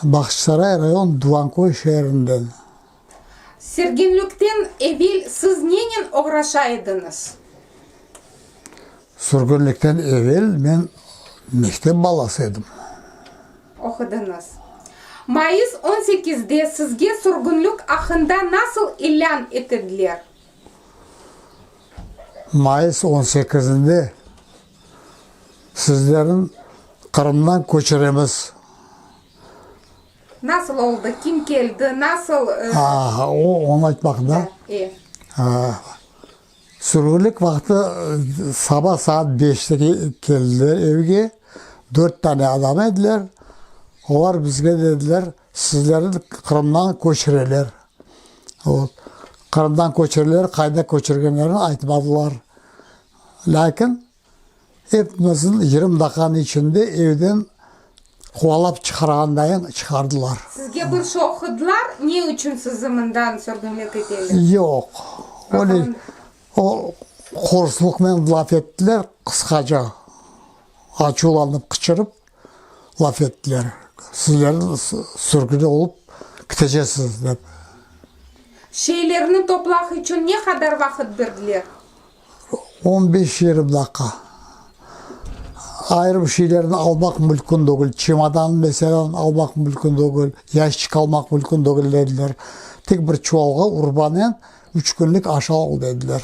Bağçasaray rayon Duvankoy şeerinden. Sürgünlikten evel siz nenen oğraşa ediñiz? Sürgünlikten evel men mektep balası edim. Oqudıñız. Mayıs on sekizde sizge sürgünlik aqqında nasıl ilân etediler? Mayıs on sekizinde. Sizlerni Qırımdan köçüremiz. Nasıl oldı, kim keldi, nasıl? Aa, o, onı aytmaq da. E. Aa, sürgünlik vaqtı saba saat beşte keldiler evge, dört tane adam ediler. Olar bizge dediler, sizlerni Qırımdan köçüreler. Qırımdan köçüreler, qayda köçürgenlerini aytmadılar. Lâkin epmizin yırım daqanıñ içinde evden quvalap çıqarğandayıñ çıqardılar. Sizge bir şoqıdılar, ne içün sizi mından sürgünlik eteler? Yoq, öyle o qorsluqnen laf ettiler, qısqaca, açuvlanıp qıçırıp laf ettiler, sizler sürgün olıp kitecesiz dep. Şeylerni toplaq içün ne qadar vaqıt berdiler? On beş yarım daqqa. Ayırım şeylerni almaq mülkün degil, çemodan meselânen almaq mülkün degil, yaşçik almaq mülkün degil, dediler. Tek bir çuvalğa urbanen üç künlik aş al, dediler.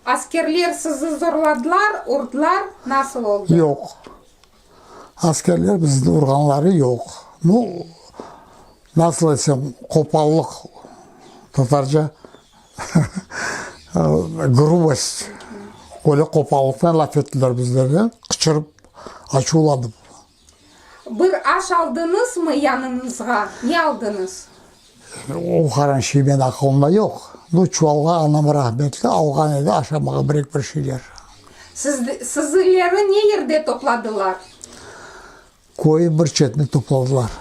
Askerler sizi zorladılar, urdılar, nasıl oldı? Yoq. Askerler bizni urğanları yoq. Nu, nasıl aytsam, qopallıq, tatarca grubost, böyle qopallıqtan laf ettiler bizlerge, qıçırıp, açuvlanıp. Bir aş aldıñızmı yanıñızğa? Ne aldıñız? O qaran şey men aqılımda yoq. Bu çuvalğa anam rahmetli alğan edi aşamağa birek bir şeyler. Sizileri ne yerde topladılar? Köyün bir çetinde topladılar.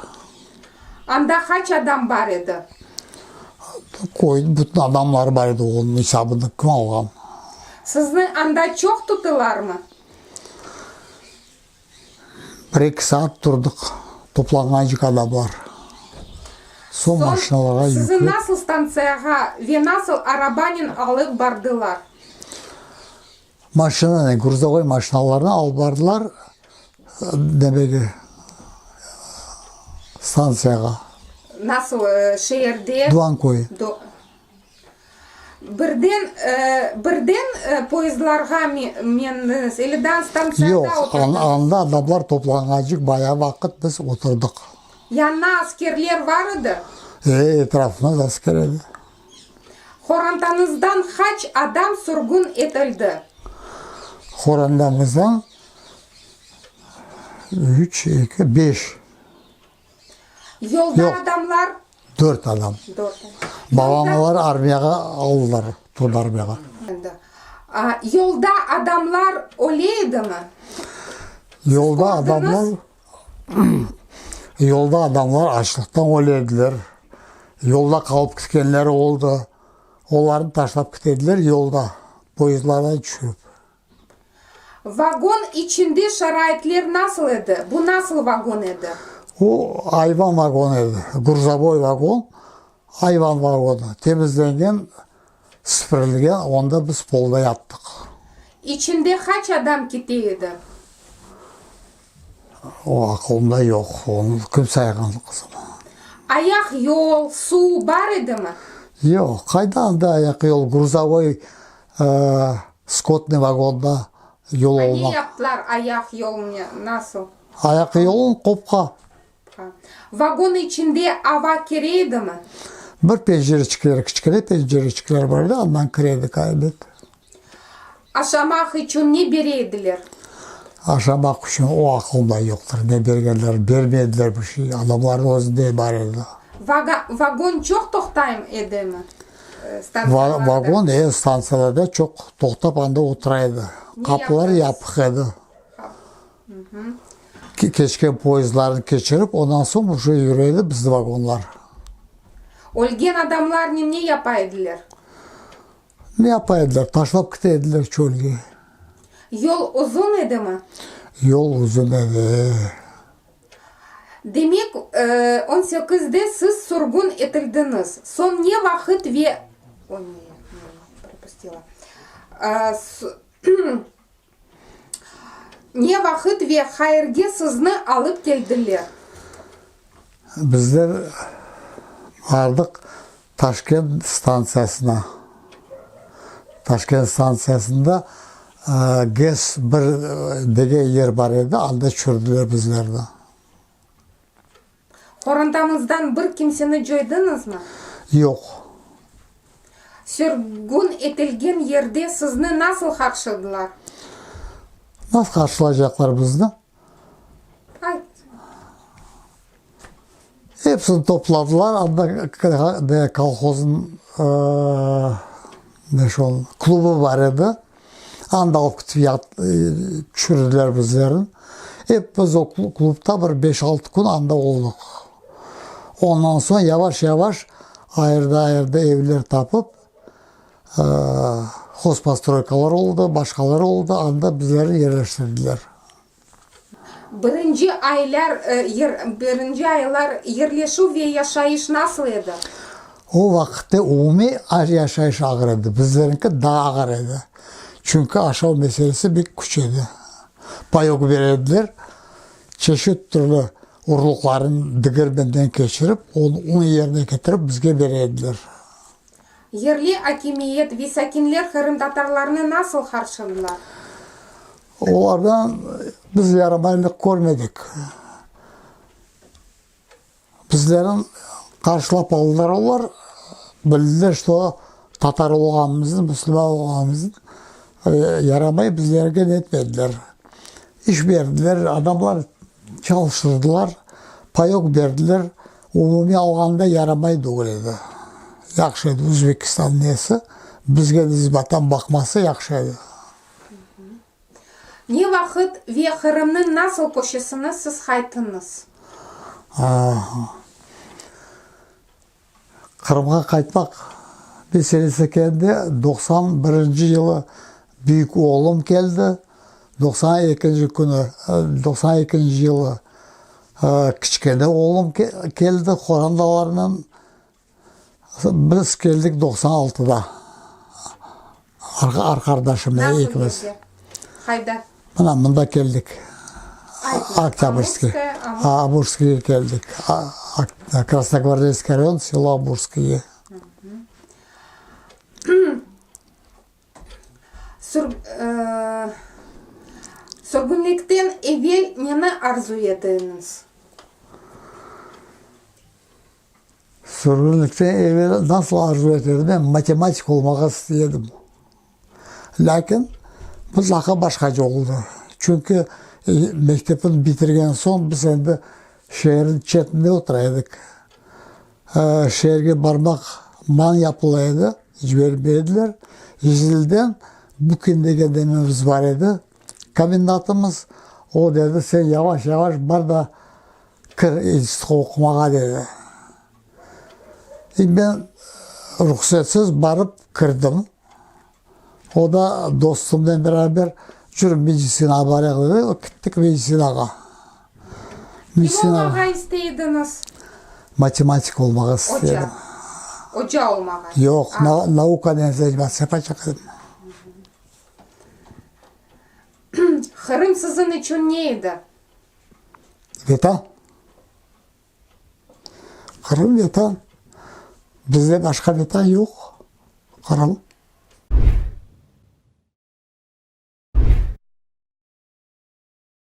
Anda qaç adam bar edi? Köyün bütün adamları bar edi, onıñ esabını kim alğan? Sizni anda çoq tutılarmı? Bir eki saat turdıq, toplanğancı qada bar. Soñ maşinalarğa yüklep. Sizi nasıl stantsiyağa ve nasıl arabanen alıp bardılar? Maşinanen, gruzovoy maşinalarnen alıp bardılar, demegi, stantsiyağa. Nasıl şeerde? Dvankoy. Birden, birden poezdlarğa mendiniz, eliden stantsiyada oturdınız? Yoq, anda, anda adamlar toplanğancıq bayağı vaqıt biz oturdıq. Yanına askerler var edi? E, etrafımız asker edi. Qorantanızdan qaç adam sürgün etildi? Qorantamızdan üç, eki, beş. Yolda Yoq. adamlar? Dört adam. Dört adam. Babam olar armiyağa aldılar, tund armiyağa. Endi, a, yolda adamlar öle edimi? Yolda adamlar, yolda adamlar açlıqtan öle ediler, yolda qalıp ketkenler oldı, olarnı taşlap kete ediler yolda, poyezdlardan tüşürip. Vagon içinde şaraitler nasıl edi? Bu nasıl vagon edi? O, ayvan vagon edi. Gruzovoy vagon, ayvan vagonı. Temizlengen, sipirilgen, onda biz polda yattıq. İçinde qaç adam kite edi? O aqılımda yoq, onı kim sayğandı qızım? Ayaq yol, suv bar edimi? Yoq, qayda anda ayaq yol, gruzavoy skotnıy vagonda yol olmaq. Ne yaptılar ayaq yolunı, nasıl? Ayaq yolun qopqa. Vagon içinde ava kire edimi? Bir pencereçikleri, kiçkene pencereçikleri bar edi, andan kire edi qaybet. Aşamaq içün ne bere ediler? Aşamaq içün o aqılımda yoqtır, ne bergenler, bermey ediler bir şey, adamlarnıñ özünde bar edi. Vaga, vagon çoq toqtayım edimi? Stansıyalarda. Va, vagon, e, stansiyalarda çoq toqtap, anda otura edi. Qapılar yapıq edi. Qap, Keçken poyezdlarnı keçirip, ondan soñ uje yüre edi bizni vagonlar. Ölgen adamlarnen ne yapa ediler? Ne yapa ediler? Taşlap kite ediler çölge. Yol uzun edimi? Yol uzun edi. Demek, on sekizde siz sürgün etildiñiz. Soñ ne vaqıt ve. Oy, ne, ne propustila. Ne vaqıt ve qayerge sizni alıp keldiler? Bizler bardıq Taşkent stantsiyasına. Taşkent stantsiyasında GES bir degen yer bar edi, anda çürdüler bizlerni. Qorantanızdan bir kimseni coydıñızmı? Yoq. Sürgün etilgen yerde sizni nasıl qarşıladılar? Nasıl qarşılaycaqlar bizni? Hepsini topladılar, anda kolhozın, ne şu, klubu bar edi. Anda oqutıp yat, tüşürdiler bizlerni. Ep biz o klubda bir beş-altı kün anda oldıq. Ondan soñ yavaş-yavaş ayırda-ayırda evler tapıp, hozpostroykalar oldı, başqalar oldı, anda bizlerni yerleştirdiler. Birinci aylar birinci aylar yerleşüv ve yaşayış nasıl edi? O vaqıtta umumiy az yaşayış ağır edi, bizleriñki daa ağır edi. Çünki aşav meselesi bek küç edi. Payok berer ediler, çeşit türlü urluqlarnı digermenden keçirip, onı un yerine ketirip bizge berer ediler. Yerli akimiyet ve sakinler qırımtatarlarnı nasıl qarşıdılar? Olardan biz yaramaylıq körmedik. Bizlerni qarşılap aldılar olar, bildiler, çto tatar olğanımıznı, müslüman olğanımıznı, yaramay bizlerge netmediler. İş berdiler, adamlar çalıştırdılar, payok berdiler. Umumiy alğanda yaramay degil edi. Yahşı edi, Özbekistan nesi, bizge nisbeten baqması yahşı edi. Ne vaqıt ve Qırımnıñ nasıl köşesini siz qaytıñız? Qırımğa qaytmaq meselesi keldi, doqsan birinci yılı büyük oğlum keldi, doqsan ekinci künü, doqsan ekinci yılı kiçkene oğlum keldi qorandalarınen. Biz keldik doqsan altıda arqardaşımnen ikimiz. Nasıl keldi? Qayda? Mına mında keldik. Oktâbrskıy. Amurskıya keldik. Krasnogvardeyskıy rayon, selo Amurskıye. Sürgünlikten evel neni arzu ettiñiz? Sürgünlikten evel nasıl arzu et edim, men matematik olmağa isti edim. Lâkin mutlaqa başqaca oldı. Çünki mektepni bitirgen soñ biz endi şeerniñ çetinde otura edik. Şeerge barmaq man yapıla edi, cibermey ediler. İzmilden Bukin degen dememiz bar edi, komendantımız. O dedi, sen yavaş-yavaş bar da, Kir institutqa oqumağa, dedi. İndi men ruhsetsiz barıp kirdim. O da dostumnen beraber, Cür, medisina abarayıq, dedi. Kittik medisinağa. Medisina. Kim olmağa istey ediñiz? Matematik olmağa istedim. Oca. Oca olmağa. Yoq, na, naukanen zañimatsız yapacaq edim. Qırım siziñ içün ne edi? Vatan. Qırım Vatan. Bizde başqa Vatan yoq, Qırım.